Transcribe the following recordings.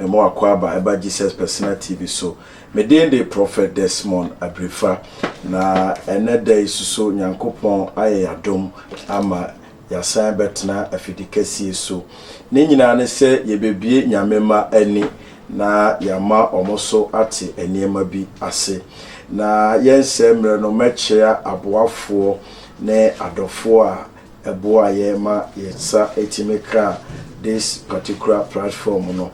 Emu akwaaba ɛba Jesus Personal TV so. Me din de Prophet Desmond Abirifa na ɛnɛ da yi soso Nyankopɔn ayɛ y'adom ama y'asan bɛtena afidikɛsie so. Ne nyinaa ne sɛ yɛbɛbie Nyame mma ani na y'ama ɔmo so ate nneɛma bi ase. Na yɛnsɛe mmerɛ no mɛkyea aboafoɔ ne adɔfoɔ a ɛboa yɛn ma yɛn nsa tumi kaa this particular platform no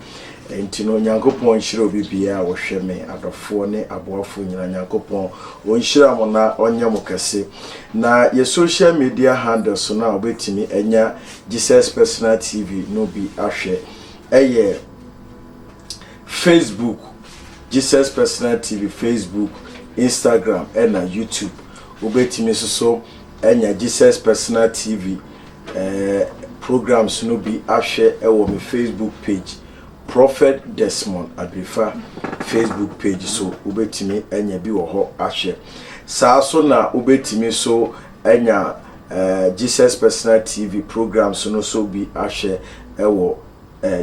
nti no Nyankopɔn nhyira obi biaa a ɔhwɛ me adɔfoɔ ne aboafoɔ nyina Nyankopɔn ɔnhyira mo na ɔnyɛ mo kɛse na yɛ social media handles no a ɔbɛtumi anya Jesus Personal TV no bi ahwɛ ɛyɛ Facebook Jesus Personal TV Facebook Instagram ɛna YouTube wobɛtumi soso Anya Jesus Personal TV programmes no bi ahwɛ wɔ me Facebook page, Prophet Desmond Adrefa Facebook page so. Wobɛtumi anya bi wɔ hɔ ahwɛ. Saa so na wobɛtumi so anya Jesus Personal TV programmes no so bi ahwɛ wɔ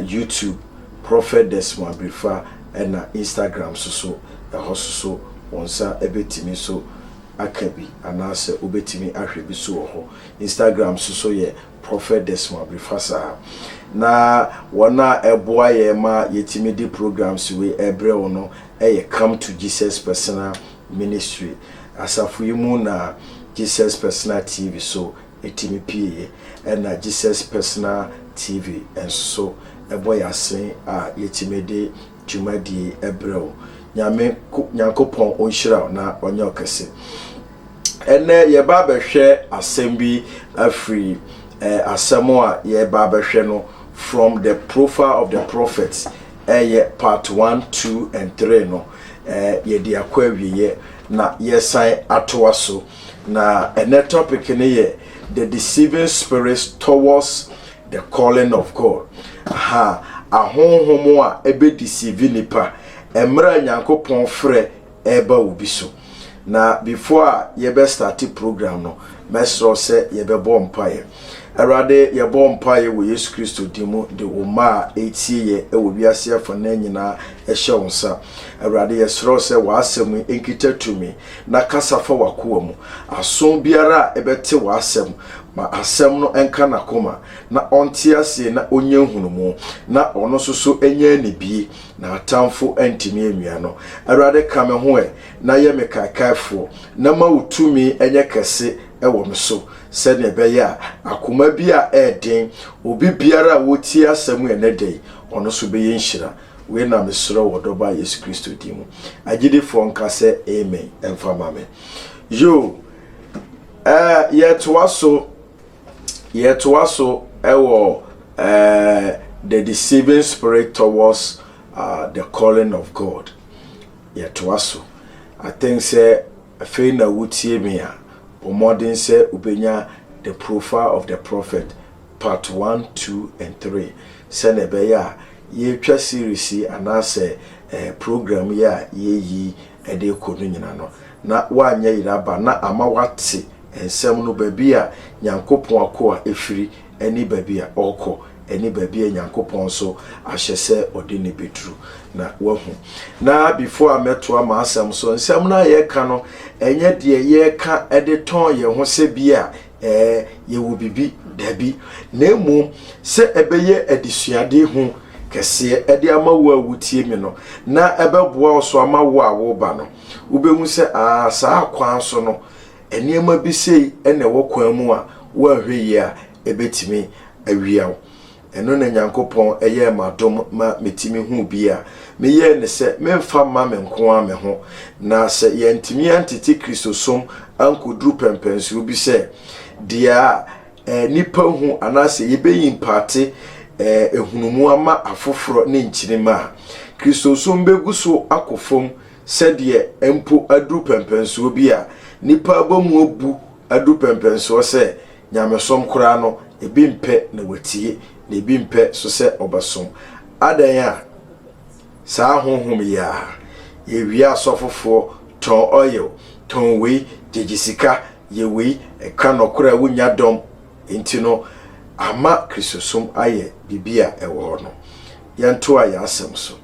YouTube, Prophet Desmond Adrefa, ɛna Instagram so so. Ɛhɔ so so wo nsa bɛtumi so aka bi anaasɛ wobɛtumi ahwɛ bi so wɔ hɔ. Instagram nso so yɛ Prophet Desmond Abrifah saa. Na wɔn a ɛboa yɛn ma yɛtumi de programs wei ɛbrɛ wo no yɛ Come to Jesus Personal Ministry. Asafo yi mu na Jesus Personal TV so ɛtumi pieeɛ. Ɛna Jesus Personal TV nso so bɔ yɛn asen a yɛtumi de dwumadie yi ɛbrɛ wo nyame nyankopɔn ɔnhyira wo na ɔnyɛ ɔkɛse ɛnɛ yɛba abɛhwɛ asɛm bi afiri eh, asɛm a yɛba abɛhwɛ no from the profile of the prophet ɛyɛ eh, part 1 2 and 3 no eh, yɛde akɔ awieɛ na yɛsan atoa so na ɛnɛ topic no yɛ the deceiving spirits towards The Calling of God. Aha, ahonhom a ɛbɛdeceive nnipa mmerɛ a Nyankopɔn frɛ ɛreba obi so. Na before a yɛbɛstarte program no, mɛsrɛ wo sɛ yɛbɛbɔ mpaeɛ. Awurade, yɛbɔ mpaeɛ wɔ Yesu Kristo din mu de wo mma a ɛretie yɛ wɔ wiase afanaa nyinaa hyɛ wo nsa. Awurade, yɛsrɛ wo sɛ w'asɛm yi nkita tumi na kasa fa w'akoa mu. Aso biara a ɛbɛte w'asɛm, ma asɛm no nka n'akoma, na ɔnte aseɛ na ɔnya nhunumu, na ɔno nso so nya anibie, na atamfo antumi anwia no. Awurade, ka me ho ɛ, na yɛ me kaekaefoɔ, na ma wo tumi nyɛ kɛse wɔ me so, sɛdeɛ ɛbɛyɛ a akoma bi a ɛyɛ den, obi biara a ɔretie asɛm ɛnnɛ da yi, ɔno nso bɛyɛ nhyira. Wei na me srɛ wɔ Dɔba Yesu Kristo din mu. Agyidifoɔ nka sɛ Amen mfa ma me. Yoo, eh, yɛtoa so, yɛtoa so ɛwɔ eh, the deceiving spirit towards uh, the calling of God. Yɛtoa so. I think sɛ Afei na wutie me a, bɔ mmɔden sɛ wubenya The Profile of the Prophet, Part One, Two, and Three, sɛnea ɛbɛyɛ a yɛretwa series yi anaasɛ ɛɛ program yi a yɛreyi de rekɔ no nyinaa no, na woanyɛ yere aba na ama woate nsɛm no, baabi a Nyankopɔn akoa firi ne baabi a ɔrekɔ, ne baabi a Nyankopɔn nso ahyɛ sɛ ɔde no bɛduru. Na wahu. Na before a mɛtoa m'asɛm so, nsɛm no a yɛreka no, ɛnyɛ deɛ yɛreka de tɔn yɛn ho sɛ bi a ɛɛ yɛwɔ biribi dabi, na mmom sɛ ɛbɛyɛ adesuade hu kɛseɛ de ama wo a wotie me no, na ɛbɛboa wo so ama wo a woreba no. Wobɛhu sɛ aa saa kwan so no, nneɛma bi sei na ɛwɔ kwan mu a, woanhwɛ yie a, ɛbɛtumi awia wo. Ɛno na Nyankopɔn yɛɛ m'adom ma metumi huu bi a, meyɛɛ ne sɛ memfa mma me nko ara me ho. Na sɛ yɛantumi antete Kristosom ankɔduru pɛmpɛnsoɔ bi sɛ deɛ a nnipa hu anaasɛ yɛbɛyi mpaate nhunumu ama afoforɔ ne nkyirimma a, Kristosom bɛgu so akɔ fam Sɛdeɛ mpo aduru pɛmpɛnsoɔ bi a nnipa abɔmu abu aduru pɛmpɛnsoɔ sɛ nyamesom koraa no, ebi mpɛ na wɔatie, na ebi mpɛ nso sɛ wɔbɛsom. Adɛn a saa honhom yi ara? Yɛwia asɔfofoɔ, tɔn oil, tɔn wei, gyegye sika, yɛ wei, ka nɔkorɛ a wonnya dɔm, enti no ama Kristosom ayɛ biribi a ɛwɔ hɔ no. Yɛntoa yɛn asɛm so.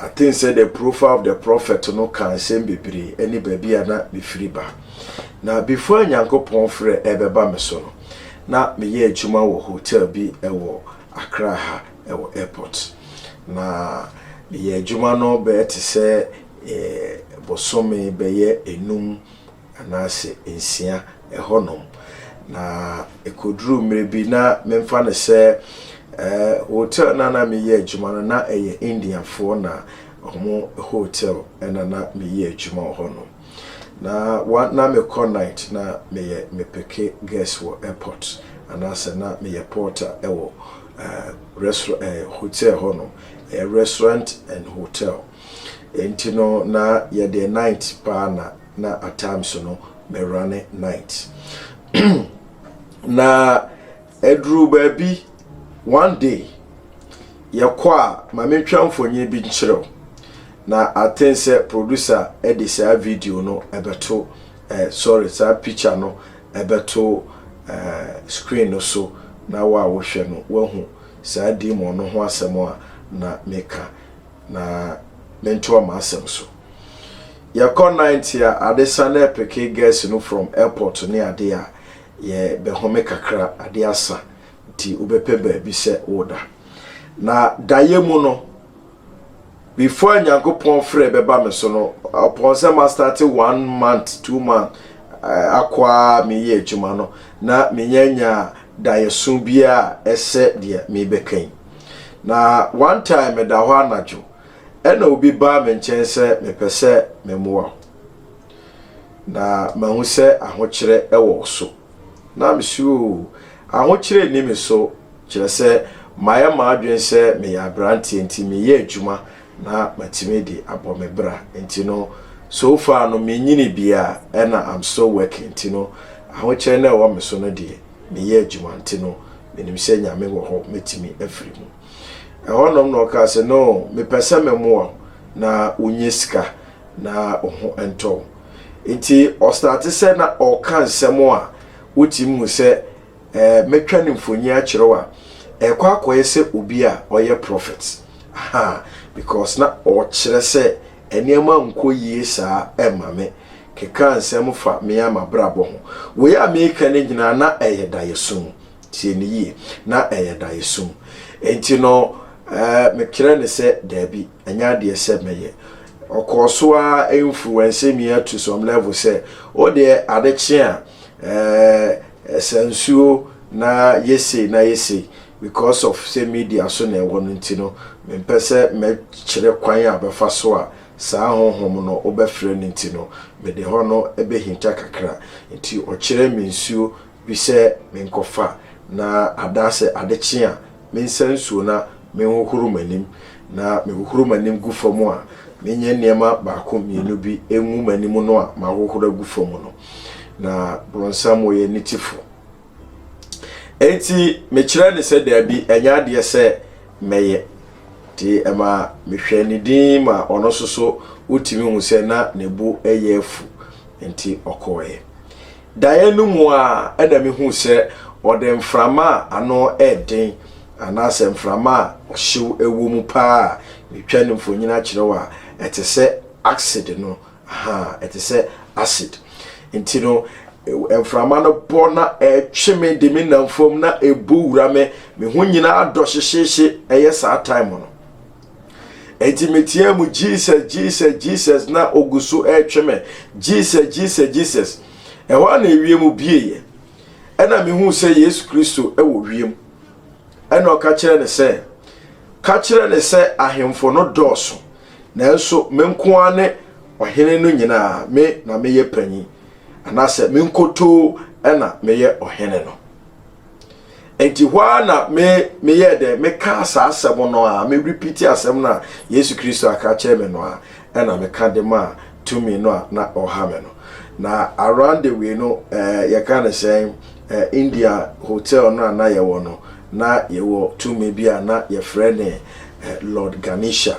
I think sɛ the profile of the prophet no ka nsɛm bebree ɛne baabi a na mefiri ba na before a nyankopɔn frɛ ɛbɛba me so no na meyɛ adwuma wɔ hotel bi ɛwɔ akra ha ɛwɔ airport na meyɛ adwuma no bɛyɛ te sɛ eh, bosome bɛyɛ enum anaasɛ nsia hɔnom. Na ɛkɔduruu mmerɛ bi na memfa no sɛ hotel no a na meyɛ adwuma no na ɛyɛ Indiafoɔ na wɔn hotel na na meyɛ adwuma wɔ hɔnom. Na one na mekɔ night na meyɛ mepeke guest wɔ airport anaasɛ na meyɛ porter wɔ restaurant ɛɛ hotel hɔnom ɛyɛ restaurant and hotel. Ɛnti no na yɛdeɛ night paa na. na at times no mɛ runne night na ɛduru baabi one day yɛkɔ a ma mentwa mfonyin bi nkyerɛw na aten sɛ producer ɛde saa video no ɛbɛto eh, sorry saa picture no ɛbɛto eh, screen no so na wo a wohwɛ no wahu saa demon no ho asɛm a na meka na mentoa m'asɛm so. Yɛkɔ night a ade sa na ɛpeke girls no from airport ne ade a, yɛbɛhome kakra, ade asa nti wobɛpɛ baabi sɛ woda. Na daeɛ mu no, before Nyankopɔn frɛ bɛba me so no, upon sɛ ma start one month, two month, eh, akɔ a meyɛ adwuma no, na menya nya daeɛso biara ɛsɛ deɛ mebɛka yi. Na one time meda hɔ anadwo, Ɛnna obi baa me nkyɛn sɛ mepɛ sɛ memmoa wo, na mahu sɛ ahokyerɛ wɔ wo so. Na mesuro oo, ahokyerɛ nni me so, kyerɛ sɛ mayɛ m'adwene sɛ meyɛ aberanteɛ nti meyɛ adwuma na matumi de abɔ me bra nti no so far no menyini biara ɛnna I'm still working nti no ahokyerɛ no a ɛwɔ me so no deɛ meyɛ adwuma nti no menim sɛ Nyame wɔ hɔ mɛtumi afiri mu. Ɛhɔnom na ɔkaa sɛ, No, mepɛ sɛ memmoa wo na wonya sika na wo ho ntɔ wo. Nti ɔstate sɛ na ɔreka nsɛm a wotumi hu sɛ eh, mɛtwa ne mfonyin akyerɛ wo a, ɛrekɔ akɔyɛ sɛ obi a ɔyɛ prɔfɛt. Aha, because na ɔkyerɛ sɛ nneɛma nkɔ yie saa ɛma me. Kekaa nsɛm fa me ara m'abrabɔ ho. Wei a mereka no nyinaa na ɛyɛ daeɛso. Tie no yie, na ɛyɛ daeɛsum. Enti no, mekyerɛɛ no sɛ, Dabi, ɛnyɛ adeɛ sɛ mɛyɛ. Ɔkɔɔ so ara influence me to some level sɛ, Wo deɛ, ade kye a, ɛɛ, sa nsuo na yɛ sei na yɛ sei. Because of sɛ media so na ɛwɔ no nti no, mempɛ sɛ mɛkyerɛ kwan a bɛfa so a saa honhom no wobɛfrɛ no nti no, mede hɔ no bɛhinta kakra. Enti ɔkyerɛɛ me nsuo bi sɛ menkɔfa, na adaa sɛ ade kye a, mensa nsuo na menhohoro m'anim, na mehohoro m'anim gu fam a, menyɛ nneɛma baako mmienu bi ngu m'anim no a mahohoro agu fam no. Na bronsam ɔyɛ ne tifo. Enti mekyerɛ ne sɛ daabi, ɛnyɛ adeɛ sɛ mɛyɛ. Nti ɛma mehwɛɛ ne din ma ɔno nso so wotumi hu sɛ na ne bo yɛ afu, nti ɔkɔɔeɛ. Daeɛ no mu ara na mehuu sɛ ɔde mframa a ano yɛ den anaasɛ mframa a ɔhyew wɔ mu paa a metwa no mfonini akyerɛ wo a ɛte sɛ acid no, aha, ɛte sɛ acid. Enti no, mframa no bɔ na ɛtwe me de me nam fam na ɛbɔ wura me, me ho nyinaa dɔ hyehyeehye, ɛyɛ saa time no. Enti meteaa mu Jesus, Jesus, Jesus na ogu so retwe me. Jesus, Jesus, Jesus. Ɛhɔ a na ewiem bieeɛ. Ɛna mehuu sɛ Yesu Kristo wɔ wiem. Ɛna ɔka kyerɛ ne sɛ, ka kyerɛ ne sɛ ahemfo no dɔɔso, nanso me nko ara ne ɔhene no nyinaa, me na meyɛ panyin, anaasɛ me nkotoo na meyɛ ɔhene no. Enti hɔ ara na me, meyɛɛ dɛn? Mekaa saa asɛm no a, me repeat asɛm no a Yesu Kristo aka akyerɛ me no a, ɛna meka de maa tumi no a na ɔha me no. Na around the way no, eh, yɛka ne sɛn, eh, India hotel no a na yɛwɔ no, na yɛwɔ tumi bi a na yɛfrɛ ne eh, Lord Ganesha.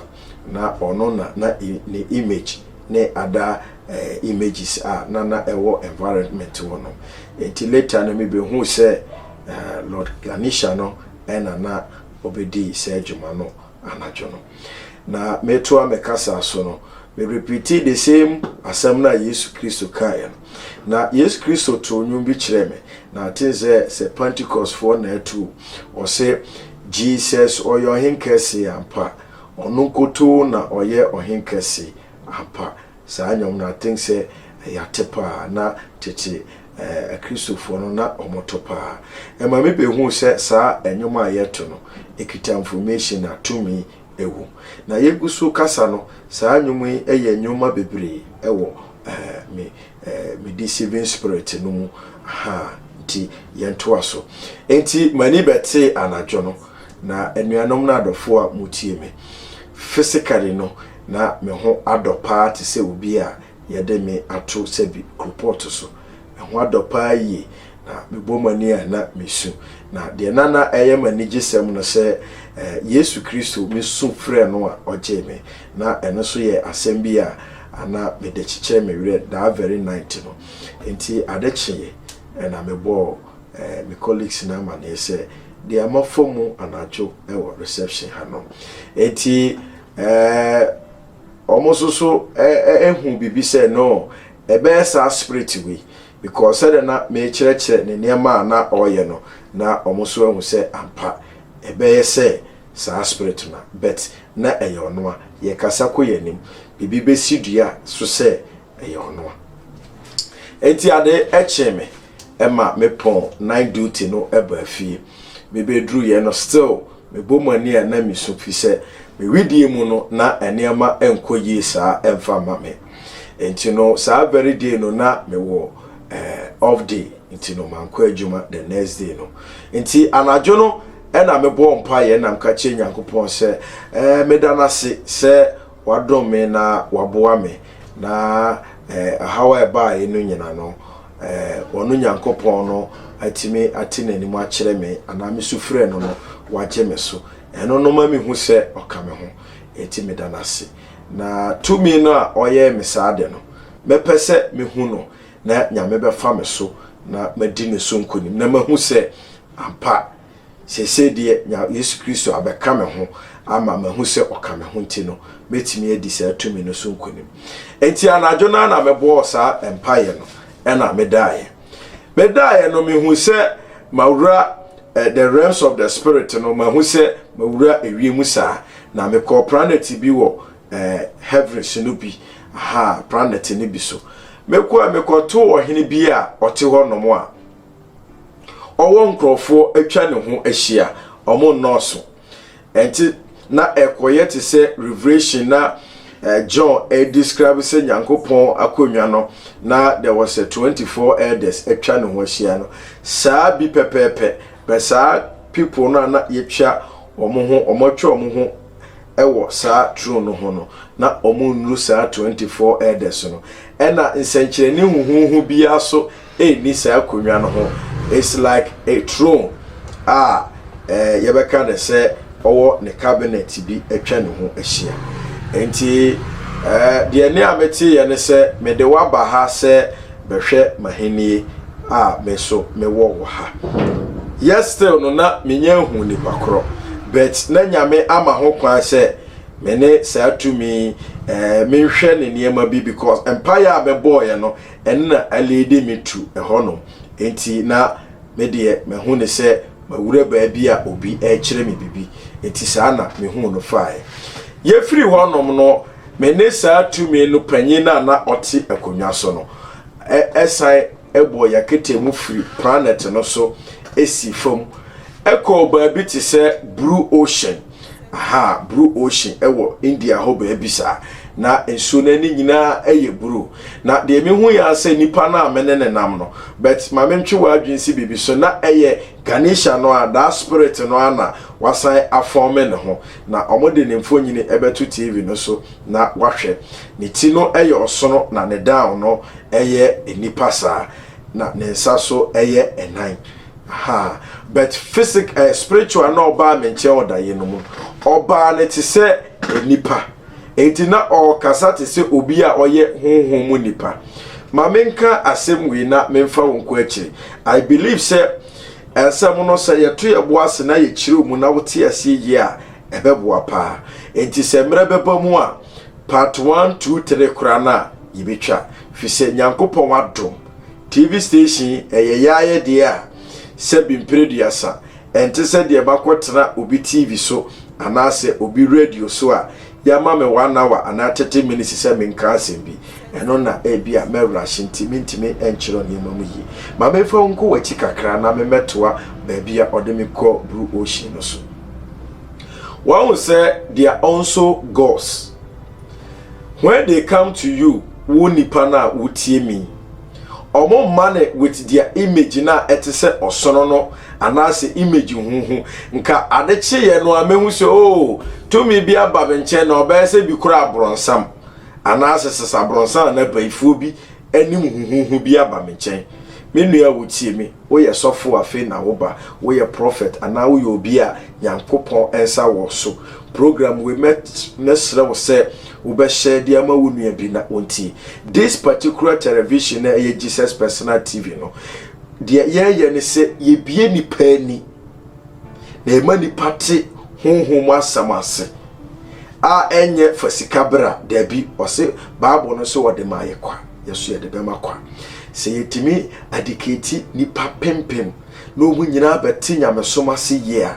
Na ɔno na na ne image ne other eh, images a na na ɛwɔ environment hɔ no nti later no mebɛhuu sɛ eh, Lord Ganesha no ɛna na ɔbɛdii saa adwuma no anadwo no na metoa me kasa so no me repeatee the same asɛm no a Yesu Kristo kaeɛ no na Yesu Kristo too nnwom bi kyerɛɛ me na aten sɛ sɛ Pentecost foɔ na atu ɔse Jesus ɔyɛ ɔhen kɛse ampa Ɔno nkotoo na ɔyɛ ɔhen kɛse ampa. Saa nnwom no I think sɛ ɛyɛ ate paa na tete akristofoɔ no na wɔto paa. Ɛma me behuu sɛ saa nnwom a yɛto no ɛkita information a tumi wom. Na yɛgu so rekasa no saa nnwom yi yɛ nnwuma bebree wɔ me me deceiving spirit no mu ahaa nti yɛntoa so. Nti m'ani bɛtee anadwo no. Na anuanom na adɔfoɔ a motie me, physically no na me ho adɔ paa te sɛ obi a yɛde me ato sɛbi koropɔɔto so. Me ho adɔ paa yie, na mebɔ m'ani a na mesu. Na deɛ na na ɛyɛ m'anigyesɛm no sɛ Yesu Kristo me su frɛ no a ɔgyee me. Na ɛno nso yɛ asɛm bi a na mede kyekyɛ me werɛ daa very night no. Enti ade kyeeɛ na mebɔɔ. Ɛɛ me colleagues no amaneɛ sɛ deɛ mafa mu anadwo wɔ reception ha no nti ɛɛ wɔn nso so ɛhu biribi sɛ no ɛbɛyɛ saa spirit wei because sɛdeɛ na mekyerɛkyerɛ ne nneɛma a na ɔreyɛ no na wɔn nso ahu sɛ ampa ɛbɛyɛ sɛ saa spirit no but na ɛyɛ ɔno a yɛkasa kɔ yɛn anim biribi bɛsi dua so sɛ ɛyɛ ɔno a nti ade ɛkyee me ma me pɔn night duty no baa fie. Me bɛ duru yɛ no still me bɔ mu ani a na me su fi sɛ me wedeɛ mu no na nneɛma nkɔ yie saa mfa mma me. Nti no saa very day no na me wɔ eh off day nti no mankɔ adwuma the next day no. Nti anadwo no na me bɔɔ mpaeɛ na meka kyerɛ Nyankopɔn sɛ eh meda no ase sɛ Wadom me na waboa me, na ɛhaw a ɛbaeɛ no nyina no, ɔno Nyankopɔn no atumi ate n'anim akyerɛ me, anaa me sufrɛ no no, wagye me so. Ɛno no ma mehu sɛ ɔka me ho, enti meda no ase. Na tumi no a ɔyɛɛ me saa ade no, mɛpɛ sɛ mehu no, na Nyame bɛfa me so na madi ne so nkonim, na mahu sɛ ampa, Seesei deɛ, nea Yesu Kristo abɛka me ho ama mahu sɛ ɔka me ho nti no, mɛtumi adi saa tumi no so nkonim. Enti anadwo no ara na mebɔɔ saa mpaeɛ no, ɛna medaeɛ. Medaeɛ no, mehu sɛ mawura eh, the realms of the spirit no, mahu sɛ mawura ewiem saa, na mekɔɔ planet bi wɔ eh, heavens no bi, aha, planet no bi so. Mekɔɔ mekɔtoo ɔhene bi a ɔte hɔ nom a, Ɔwɔ nkurɔfoɔ atwa ne ho ahyia, wɔn nnɔɔso. Ɛnti na ɛkɔyɛ te sɛ revelation na eh, John eh, describe sɛ Nyankopɔn akonnwa no na there was a 24 elders atwa ne ho ahyia no. Saa bi pɛpɛɛpɛ, bɛ saa people no a na yɛtwa wɔn ho, wɔn atwa wɔn ho ɛwɔ saa throne no ho no, na wɔn nnuru saa 24 elders no. Ɛna nsɛnkyerɛnne huhuhu biara so nni saa akonnwa no ho it's like a throne a eh, yɛbɛka ne sɛ ɔwɔ ne cabinet bi atwa ne ho ahyia nti eh, deɛ ne a meteeɛ ne sɛ mede waba ha sɛ bɛhwɛ mahenie a me so mewɔ wɔ ha yɛ still no na menya ahu nipa korɔ but na nyame ama ho kwan sɛ me ne saa tumi eh, menhwɛ ne nneɛma bi because mpaeɛ a mebɔɔeɛ no Ɛno na ɛleede me tu ɛhɔnom. Enti na me deɛ mahu no sɛ mawura baabi a obi rekyerɛ me biribi. Enti saa na mehuu no faeɛ. Yɛfirii hɔnom no, me ne saa tumi no panyin a na ɔte akonnwa so no san bɔɔ yɛn aketee mu firi planɛt no so sii fam kɔɔ baabi te sɛ Bruu Ocean. aha Blue Ocean wɔ India hɔ baabi saa. Na nsuo no ani nyinaa yɛ blue. Na deɛ mehu yɛ asɛ nipa no a me ne ne nam no, but ma me ntwe w'adwene si biribi so na ɛyɛ Ganesha no a daa spirit no a na wasan afɔme ne ho. Na wɔn de ne mfonyini bɛto TV no so na wahwɛ. Ne ti no yɛ ɔsono na ne down no yɛ nipa saa. Na ne nsa so yɛ nnan. Ha, but physic eh, spiritual na ɔbaa me nkyɛn ɔdaeɛ no mu ɔbaa no te sɛ nipa enti na ɔkasa te sɛ obi a ɔyɛ honhom mu nipa ma menka asɛm wei na memfa wo nko akyiri i believe sɛ nsɛm no sɛ yɛto yɛ bo ase na yɛkyerɛ mu na wote aseɛ yie a ɛbɛboa paa enti sɛ mmerɛ bɛba mu a part 1 2 3 koraa no a yɛbɛtwa firi sɛ nyankopɔn adom TV station yi, ɛyɛ yɛn ayɛdeɛ a sɛbi mpereduasa. Ɛnte sɛ deɛ makɔtena obi TV so anaasɛ obi radio so a yɛama me one hour anaa thirty minutes sɛ menka asɛm bi. Ɛno na ebi a mɛrahye nti mentumi nkyerɛw nneɛma mu yie. Ma memfa wo nkɔ w'akyi kakra na memmɛtoa baabi a ɔde me kɔ Blue Ocean no so. Wahu sɛ deɛ ɔnso gauze. When they come to you, wo nipa no a wotie me yi, wɔn mma no with their image no a ɛte sɛ ɔsono no anaasɛ image huhu. Nka ade kyeeɛ no a mɛhu sɛ oo oh, tumi bi aba me nkyɛn na ɔbɛyɛ sɛ bi kora aborɔnsam anaasɛ sesa aborɔnsam anaa bayifoɔ bi anim huhuhu bi aba me nkyɛn. Me nua a wotie me. Woyɛ sɔfo afei na wo ba, woyɛ prɔfɛt anaa woyɛ obi a Nyankopɔn nsa wɔ so. Program wei mɛ mɛ srɛ wo sɛ wo bɛ share de ama wo nua bi na ɔntie. This particular television a ɛyɛ Jesus Personal TV no, deɛ yɛyɛ ne sɛ yɛbie nipa ani na yɛma nipa te honhom mu asɛm ase a ɛnyɛ fa sika bra daabi ɔse Bible no sɛ ɔde ma yɛ kwa yɛso yɛde bɛma kwa sɛ yɛtumi adekɛti nipa penpem na ɔmu nyinaa bɛte nyamesom ase yie a,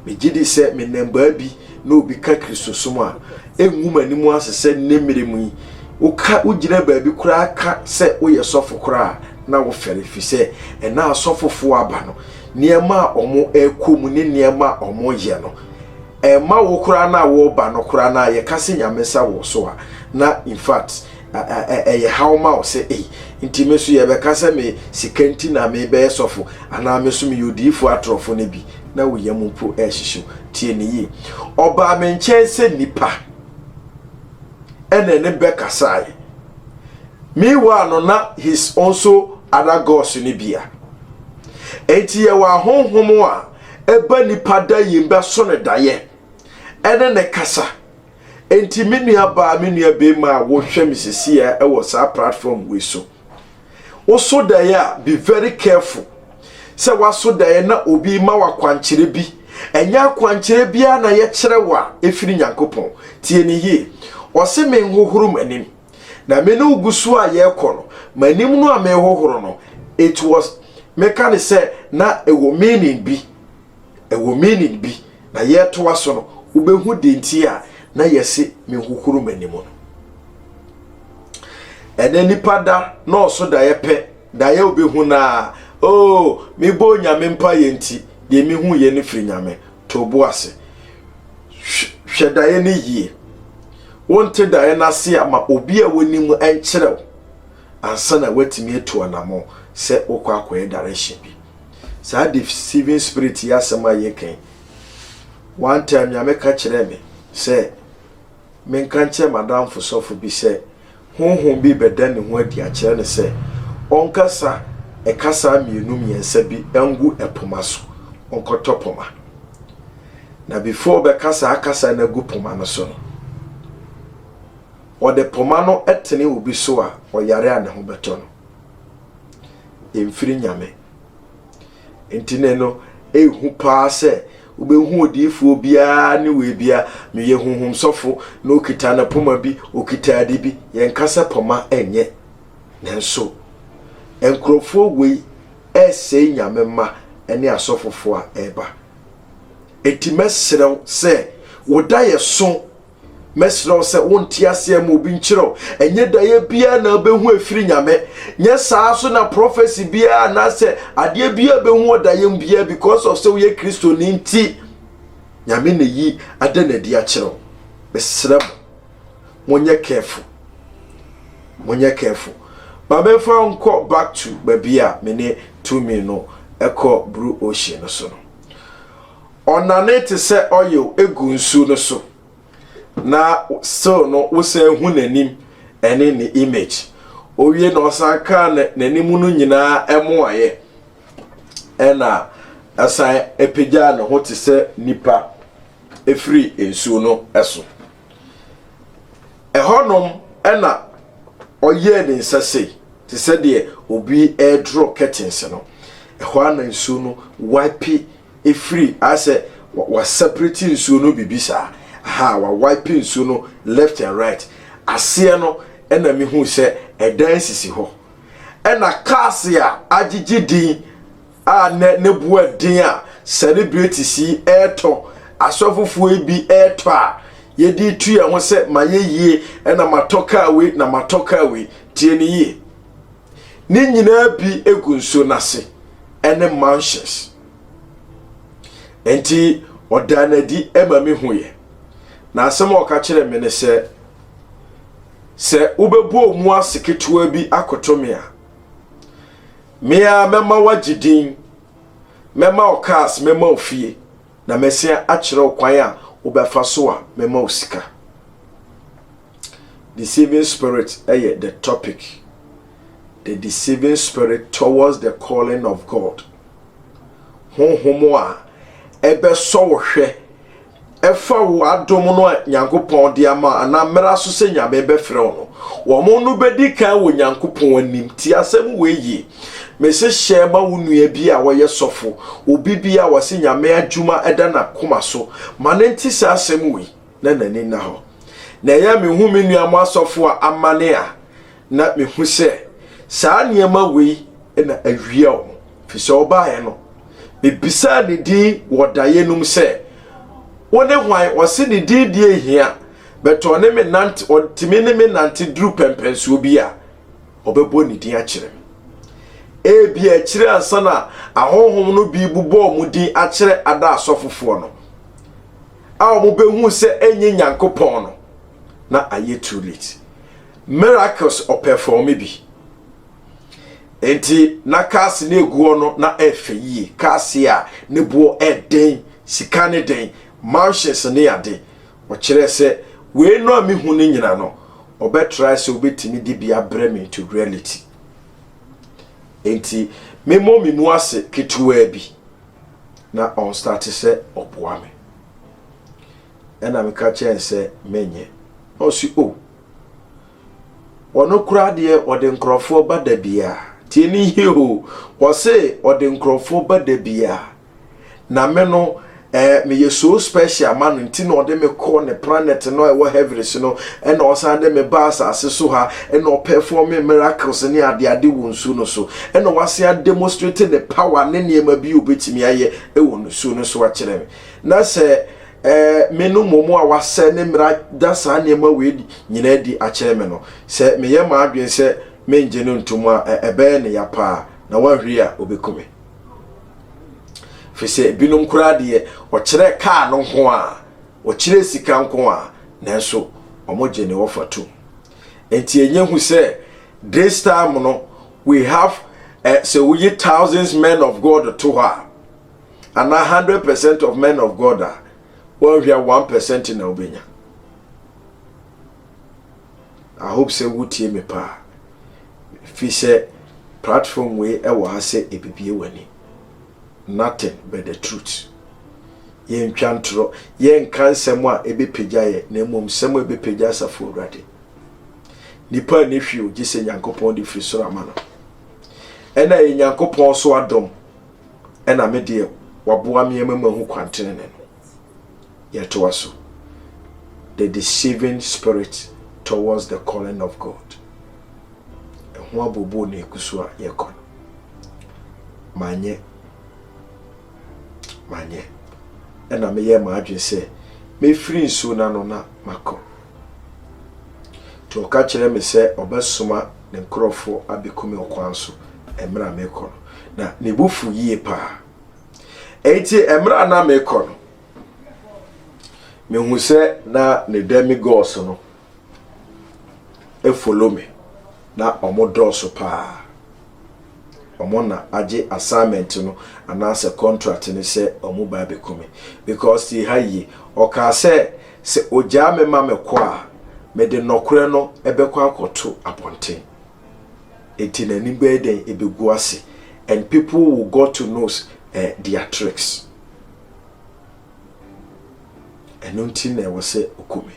megyedi sɛ me nnɛmbaa bi na obi ka kristosom a, ɛngu m'anim ase sɛ nnɛ mmire mu yi woka wogyina baabi koraa ka sɛ woyɛ sɔfo koraa a na wofɛre efisɛ ɛnnɛ a asɔfofoɔ aba no nneɛma a ɔmo ɛkɔ mu ne nneɛma a ɔmo yɛ no ɛmma wo koraa no a woreba no koraa no a yɛka sɛ nyame nsa wɔ so a na infact ɛyɛ haw ma wo sɛ ei nti me nso yɛbɛka sɛ me sika nti na mebɛyɛ sɔfo anaa me nso meyɛ odiyifo atorɔfo no bi na wo yam mpo ɛrehyehyew tie ne yie ɔbaa me nkyɛn sɛ nipa ɛna ne bɛkasae meanwhile no na his also other gods no bia enti yɛwɔ ahonhom a ɛba nipa da yɛn bɛso ne dayɛ ɛne ne kasa Enti me nua baa me nua bɛɛma a wo hwɛ me sesiɛ ɛwɔ saa platform wei so wo so daeɛ a be very careful sɛ waso daeɛ na obi ma wakwankyerɛ bi ɛnyɛ akwankyerɛ biara na yɛ kyerɛ wa ɛfiri nyankopɔn tie ne yie ɔse me nhohoro m'anim na me ne ogusu a yɛ kɔ no m'anim no a me hohoro no it was meka ne sɛ na ɛwɔ meaning bi ɛwɔ meaning bi na yɛretoa so no wobɛhu deɛ nti a na yɛse menhohoro m'anim no ɛnɛ nipa da nɔɔso daeɛ pɛ daeɛ wobɛhu no a o oh, mebɔ onyame mpa yɛ nti deɛ mehu yɛ no firi nyame to bo ase hwɛ daeɛ no yie wonte daeɛ no ase a ma obi a wonim nkyerɛw ansa na woatumi atu anamɔ sɛ wokɔ akɔyɛ direction bi Saa deceiving spirit yi asɛm a yɛka yi, one time Nyame ka kyerɛɛ me sɛ menka nkyerɛ m'adamfo sɔfo bi sɛ honhom bi bɛda ne ho adi akyerɛ no sɛ ɔnkasa ɛkasa mmienu mmiɛnsa bi ngu ɛpoma so ɔnkɔtɔ poma na before ɔbɛka saa kasa no agu poma no so no ɔde poma no tene obi so a ɔyare a ne ho bɛtɔ no mfiri nyame nti ne no ehu paa sɛ wobɛhu odiifoɔ biara ne wei bia meyɛ huhum sɔfo na okita ne poma bi okita ade bi yɛnka sɛ poma ɛnyɛ nanso nkurɔfoɔ wei ɛresɛe nyame mma ne asɔfofoɔ a ɛreba ɛti mɛserɛw sɛ woda yɛ so Mɛsrɛ wo sɛ wo nteaseɛ mu obi nkyerɛ wo. Ɛnyɛ daeɛ biara na wobɛhu ɛfiri Nyame. Nyɛ saa so na prophecy biara anaasɛ adeɛ biara bɛhu wɔ daeɛ mu biara because of sɛ woyɛ Kristo ni nti. Nyame na yi ada no adi akyerɛ wo. Mesrɛ mo, monyɛ careful. Monyɛ careful. Ma memfa wo nkɔ back to baabi a me ne Tumi no ɛkɔ Brue Ocean no so no. Ɔnane te sɛ oil gu nsu no so na still no wosan hu n'anim ɛne ne image. Owie na ɔsan kaa n'anim no nyinaa ɛmo ayɛ ɛna ɛsan ɛpagyaa ne ho te sɛ nipa ɛfiri nsuo no ɛso. Ɛhɔnom na ɔyɛɛ ne nsa sei te sɛ deɛ obi redrɔ curtains no. Ɛhɔ ara na nsuo no wipe efiri asɛ waseparate nsuo no biribi saa aha wawipe nsuo no left and right aseɛ no ɛna mehu sɛ ɛdan sisi hɔ ɛna cars a agyegye din a nnɛ ne bo yɛ den a sɛlebretis yi retɔ, asɔfofoɔ yi bi retɔ a, yɛde retu yɛn ho sɛ mayɛ yie na matɔ kaa wei na matɔ kaa wei. Tie no yie. Ne nyinaa bi gu nsuo no ase ɛne mansions. Nti ɔdaa no adi ma me hu yɛ. Na asɛm a ɔka kyerɛ me ne sɛ, sɛ wobɛbɔ mu ase ketewa bi akoto me a, Me ara mɛma woagye din, mɛma wo cars, mɛma wo fie, na mɛsan akyerɛ wo kwan a wobɛfa so a mɛma wo sika. Deceiving spirit yɛ the topic. The deceiving spirit towards the calling of God. Honhom a ɛbɛsɔ wo hwɛ ɛfa wo adom no a Nyankopɔn de ama anaa mmra so sɛ Nyame bɛfrɛ wo no, wɔn no bɛdi kan wɔ Nyankopɔn anim. Tie asɛm wei yie, Mese hyɛ ma wo nua bi a ɔyɛ sɔfo, obi bi a ɔse Nyame adwuma da n'akoma so, ma no nte saa asɛm wei na n'ani nna hɔ. Na ɛyɛ a mehu me nuanom asɔfo a amane a, Na mehu sɛ saa nneɛma wei na awia wɔn, firi sɛ ɔbaeɛ no, mebisaa ne din wɔ daeɛ no mu sɛ, Wo ne hwan? Ɔse ne din deɛ nhia, but ɔne me nante, ɔtumi ne me nante duru pɛmpɛnsoɔ bi a, ɔbɛbɔ ne din akyerɛ me. Ebia akyire ansa na ahonhom no bi bobɔ wɔn din akyerɛ ada asɔfofoɔ no, a wɔbɛhuu sɛ ɛnyɛ Nyankopɔn no, na ayɛ too late. Miracles ɔpɛrfɔɔme bi. Enti na cars no egu hɔ no na ɛyɛ fɛ yie. Cars a ne boɔ yɛ den, sika ne den, mansions ne ade. Ɔkyerɛɛ sɛ wei no a mehu no nyina no, ɔbɛtrae sɛ ɔbɛtumi de bi abrɛ me into reality. Enti memmɔ me mu ase ketewaa bi na ɔnstarte sɛ ɔboa me. Ɛna meka kyerɛɛ no sɛ menyɛ. Na ɔse oh. Ɔno koraa deɛ ɔde nkurɔfoɔ ba da bia tie ne yie o ɔse ɔde nkurɔfoɔ ba da bia na me no ɛɛ meyɛ so special ma no nti na ɔde me kɔ ne planet no a ɛwɔ heavens no ɛna ɔsan de me ba asase so ha ɛna ɔperform me miracles ne adeade wɔ nsuo no so ɛna wasan ademonstrate ne power ne nneɛma bi a obetumi ayɛ ɛwɔ nsuo no so akyerɛ me na sɛ Ɛɛ, me no mmom a wɔasɛ ne mmara da saa nneɛma wei nyinaa adi akyerɛ me no, sɛ meyɛ m'adwene sɛ merennye no ntom a, ɛbɛyɛ no ya paa, na wanhwere a, ɔbɛku me. Ɛfiri sɛ ebinom koraa deɛ, ɔkyerɛ kaa no nko a, ɔkyerɛ sika nko a, nanso wɔgye ne ɔfa tom. Enti ɛnyɛ hu sɛ this time no, we have eh, sɛ woyi thousands men of God to hɔ a, anaa hundred percent of men of God a wɔnhwɛ one percent na wobɛnya I hope sɛ wotie me paa fi sɛ platform wei ɛwɔ ha sɛ ebibie w'ani nothing but the truth yɛntwa ntorɔ yɛnka nsɛm a ɛbɛpagya yɛ na mmom nsɛm a ɛbɛpagya asafo awurade nipa a ne hwee ogye sɛ nyankopɔn de firi soro ama no ɛna yɛ nyankopɔn so adom ɛna me deɛ waboa me ama mahu kwan tenene no. Yɛtoa so. The deceiving spirit towards the calling of God. Ɛho abobo na ɛgu so a yɛkɔ no. Manyɛ. Manyɛ. Ɛna meyɛ m'adwene sɛ mɛfiri nsuo no ano na makɔ. Nti ɔka kyerɛɛ me sɛ ɔbɛsoma ne nkurɔfo abeku me ɔkwan so mmerɛ a merekɔ no, na ne bo fuu yie paa. Enti mmerɛ a na merekɔ no, mehu sɛ na ne dɛmigɔɔso no efolo me, na wɔdɔɔso paa. wɔn na agye assignment no anaasɛ contract no sɛ wɔn ba abɛku me because tie ha yie ɔkaa sɛ sɛ ogyaa me ma me kɔ a mede nnɔkorɛ no ɛbɛkɔ akɔto abɔnten enti n'anim bɛyɛ dɛn ɛbɛgu ase and people will go to know uh, their tricks ɛno nti na ɛwɔ sɛ ɔku me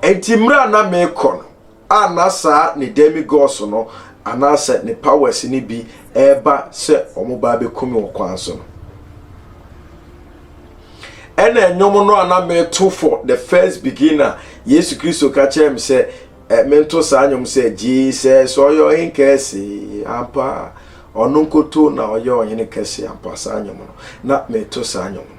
enti mmerɛ a na meekɔ no a na saa ne demigods no anaasɛ ne powers no bi reba sɛ wɔba abɛku me wɔ kwan so no. Ɛna nnwom no a na meto for the first beginner, Yesu Kristo ka kyerɛ me sɛ eh, mento saa nnwom sɛ Jesus ɔyɛ ɔhen kɛse ampa, ɔno nkoto na ɔyɛ ɔhene kɛse ampa, saa nnwom no, na meto saa nnwom no.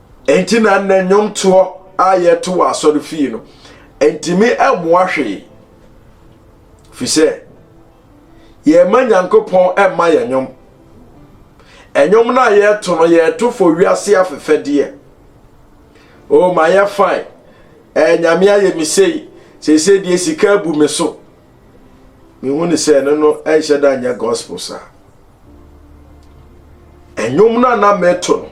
Enti na nnɛ nnwomtoɔ a yɛto wɔ asɔre fie no ntumi mmoa hwee fi sɛ yɛma nyankopɔn mma yɛn nnwom ɛnwom no a yɛto no yɛto fo wiase afefɛdeɛ o ma yɛ fine ɛɛ nyame ayɛ me sei seesei deɛ sika abu me so mehu ne sɛ ɛno no ɛnhyɛ da nyɛ gospel saa ɛnwom no a na meto no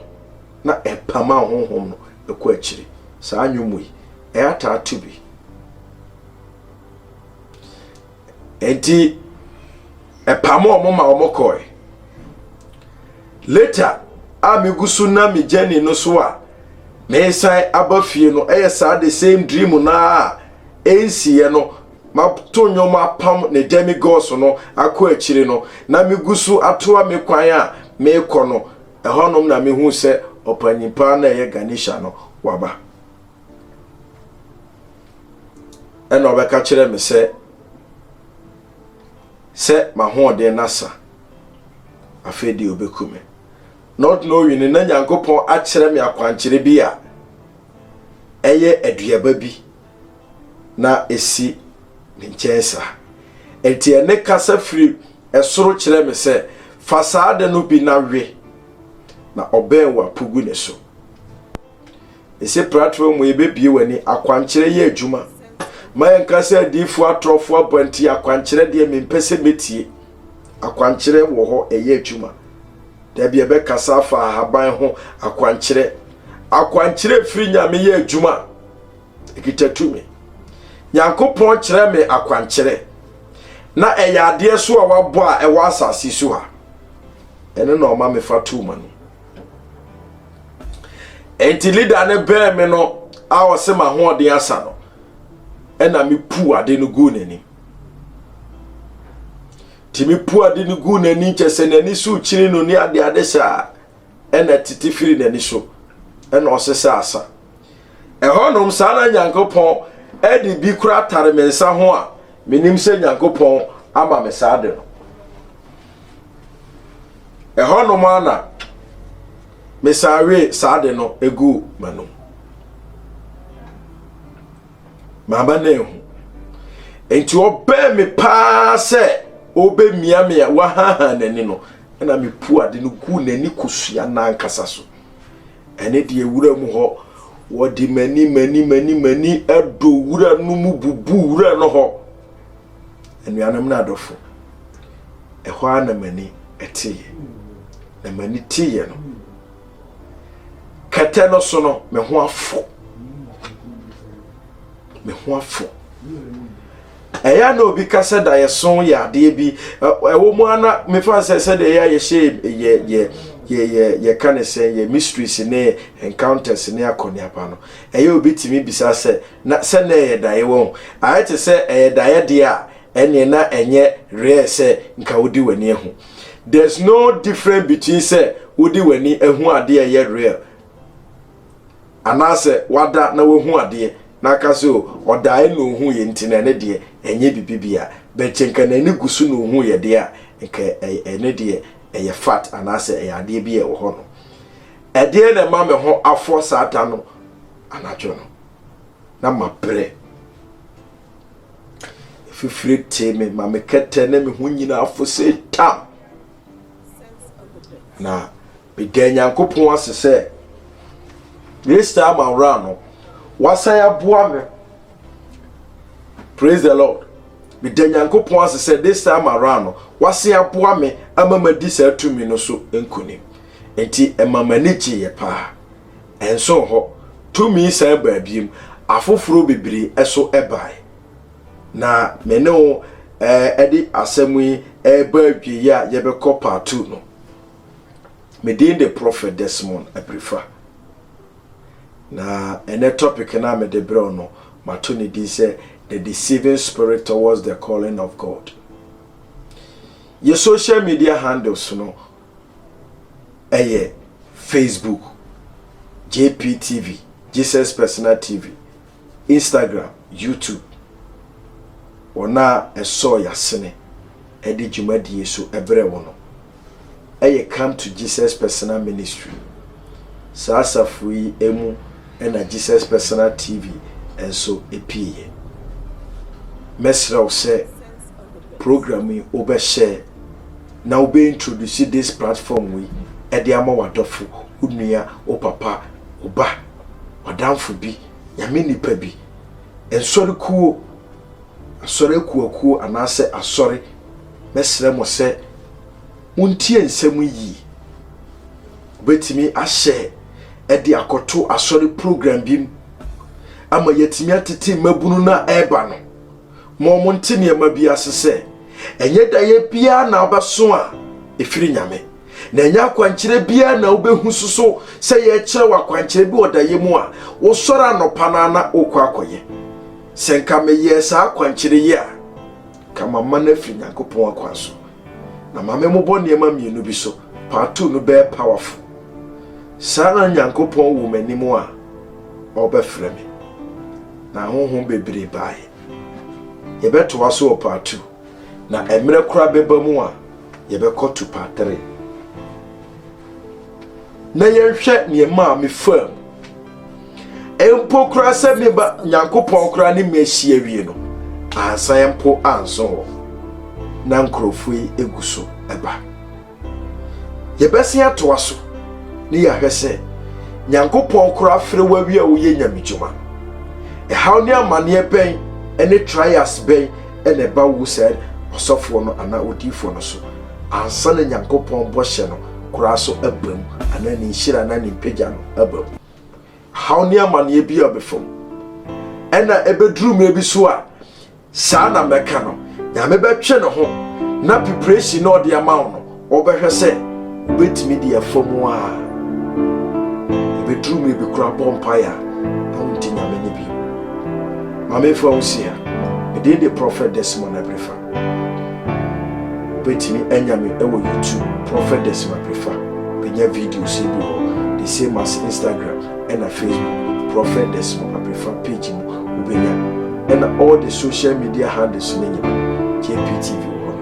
na ɛpama honhom no ɛkɔ akyiri saa nnwom yi ɛyɛ ataa to bi nti ɛpamo ɔmo ma ɔmo kɔe later a megu so na me journey no so a mesan aba fie no ɛyɛ saa the same dream no a ɛnsiiɛ no Mato nnwom apam ne demigods no akɔ akyiri no, na migu so atoa me kwan a merekɔ no, ɛhɔnom na mihui sɛ ɔpanyin pa ara no a ɛyɛ Ganesha no, waba. Ɛnna ɔbɛka kyerɛɛ me sɛ, sɛ m'ahoɔden no asa, afei deɛ obeku me. Not knowing no, na Nyankopɔn akyerɛ me akwankyerɛ bi a ɛyɛ aduaba bi na ɛsi me nkyɛn saa. Enti ɛne kasa firi ɛsoro kyerɛ me sɛ, fa saa ade no bi na we, na ɔbɛn wɔ apo gu ne so. Ɛsɛ pratoɔ mu yɛbɛbie w'ani akwankyerɛ yɛ adwuma. Ma yɛnka sɛ adiifoɔ atorɔfoɔ aba nti akwankyerɛ deɛ mempɛ sɛ mɛtie. Akwankyerɛ wɔ hɔ ɛyɛ adwuma. Da bi ɛbɛkasa afa ahaban ho akwankyerɛ. Akwankyerɛ firi nyame yɛ adwuma. ɛkita tumi. Nyankopɔn kyerɛ me akwankyerɛ na ɛyɛ adeɛ so a wabɔ a ɛwɔ asase so ha. Ɛno na ɔma mefa too ma no. Enti leader no bɛɛ me no a ɔse m'ahoɔden asa no ɛna mepu ade no guu n'anim. Nti mepu ade no guu n'anim kyɛ sɛ n'ani so kyiri no ne adeade saa ɛna tete firi n'ani so ɛna ɔse sɛ asa. Ɛhɔnom, saa na Nyankopɔn de bi kora tare me nsa ho a menim sɛ Nyankopɔn ama me saa de no. Ɛhɔnom ara na mesan wee saa de no guu m'anom. Mamma no anhu. Enti ɔbɛn me paa sɛ ɔbɛmia me a wahaha n'ani no, ɛna mepu ade no guu n'ani kosua n'ankasa so. Ɛne deɛ wura mu hɔ. Wɔde mani mani mani mani dɔ wura no mu bubu wura no hɔ. Anuanom no adɔfo, ɛhɔ ara na m'ani teeɛ. Na m'ani teeɛ no, kɛtɛ no so no, me ho afɔ. Me ho afɔ. ɛyɛ a na obi ka sɛ daeɛso yɛ adeɛ bi ɛwɔ mu a na mefa sɛ sɛdeɛ ɛyɛ a yɛhyɛ yɛ yɛ yɛ yɛ yɛka ne sɛ yɛ mysteries ne encounters ne akɔneaba no ɛyɛ obi tumi bisa sɛ na sɛ na ɛyɛ daeɛ wɔ ho ayɛ te sɛ ɛyɛ daeɛ deɛ a ɛneɛ na ɛnyɛ rare sɛ nka wodi w'ani ahu there's no difference between sɛ wodi w'ani ahu adeɛ ɛyɛ rare Anaasɛ wada na wahu adeɛ na aka sɛ o, ɔdaeɛ na ɔhuuɛ nti na ɛno deɛ ɛnyɛ biribi biara. But sɛ nka n'ani gu so na ɔhuuɛ deɛ a, nka ɛno deɛ ɛyɛ fact anaasɛ ɛyɛ adeɛ bi a ɛwɔ hɔ no. Ɛdeɛ na ɛma me ho afɔ saa da no anadwo no. Na mabrɛ. Fifire tee me ma me kɛtɛ na me ho nyinaa afo sɛ tam. Na Meda Nyankopɔn ase sɛ Mister Maurano wasan aboa me Praise the Lord Meda Nyankopɔn ase sɛ this time around no wasan aboa me ama madi saa tumi no so nkonim nti ɛma m'ani gyeeɛ paa ɛnso hɔ tumi san baa biem afoforɔ bebree ɛso ɛbae na me ne wo ɛde asɛm yi ɛreba awieeɛ a yɛbɛkɔ part two no Me din de Prophet Desmond Aprifa. Na ɛnɛ topic no a mede berɛw no, mato ne din sɛ The Deceiving Spirit Towards the Calling of God. Yɛ social media handles no ɛyɛ Facebook, JPTV, Jesus Personal TV, Instagram, YouTube, wɔn a ɛsɔɔ y'asene de dwumadie so brɛ wo no yɛ Come to Jesus Personal Ministry. Saa asafo yi mu na Jesus Personal TV nso pieeɛ. Mɛsrɛ wo sɛ program yi wobɛhyɛ na wobɛ introduce this platform yi de ama w'adɔfo, wo nua, wo papa, wo ba. w'adamfo bi, Nyame nipa bi, nsɔre kuo, asɔre akuakuo anaasɛ asɔre, mɛsrɛ mo sɛ montie nsɛm yi yie. Wobɛtumi ahyɛ ɛde akɔto asɔre program bi mu ama yɛatumi atete mmabunu no a ɛreba no. Mo mo nte nneɛma bi ase sɛ ɛnyɛ daeɛ biara na wobɛso a ɛfiri Nyame. na ɛnyɛ akwankyerɛ biara na wobɛhu so so sɛ yɛrekyerɛ wɔ akwankyerɛ bi wɔ dayɛ mu a wosɔre anɔpa no ara na wokɔ akɔyɛ sɛ nka meyɛɛ saa akwankyerɛ yi a ka mama no afiri nyankopɔn akwan so na ma memobɔ nneɛma mmienu bi so part two no bɛyɛ powerful saa na nyankopɔn wɔ m'anim a ɔbɛfrɛ me na honhom bebree baeɛ yɛbɛtoa so wɔ part two na mmerɛ koraa bɛba mu a Yɛbɛkɔ Tupatire na yɛnhwɛ neɛ maa me faa mu. Mpo koraa sɛ me ba Nyankopɔn koraa ne me asi awie no, ansan mpo anso hɔ. Na nkurɔfoɔ yi egu so ɛba. Yɛbɛsen atoa so ne yɛahwɛ sɛ Nyankopɔn koraa afrɛ wo awie a woyɛ nyamedwuma. Ɛhaw ne amaneɛ bɛn ne trials bɛn na ɛba wu saa ɔsɔfoɔ no anaa odiyifoɔ no so, ansa na Nyankopɔn bɔhyɛ no koraa so aba mu, anaa ne nhyira anaa ne mpagya no aba mu. Haw ne amaneɛ biara bɛfa mu. Ɛna ɛbɛduru mmerɛ bi so a, saa na mɛka no, Nyame bɛtwe ne ho na preparation na ɔde ama wo no, Wobɛhwɛ sɛ wobɛtumi de afa mu a ɛbɛduru mmerɛ bi koraa bɔ mpaeɛ a na wonte Nyame nne bio. Ma memfa wo nsi ha, me din de Prophet Desmond Abrifa. Wobɛtumi anya me wɔ YouTube, Prophet Desmond Abrifa, bɛnya videos yi bi wɔ hɔ, the same as Instagram ɛna Facebook, Prophet Desmond Abrifa page mu wobɛnya, ɛna all the social media handles no nyinaa JPTV wɔ hɔ.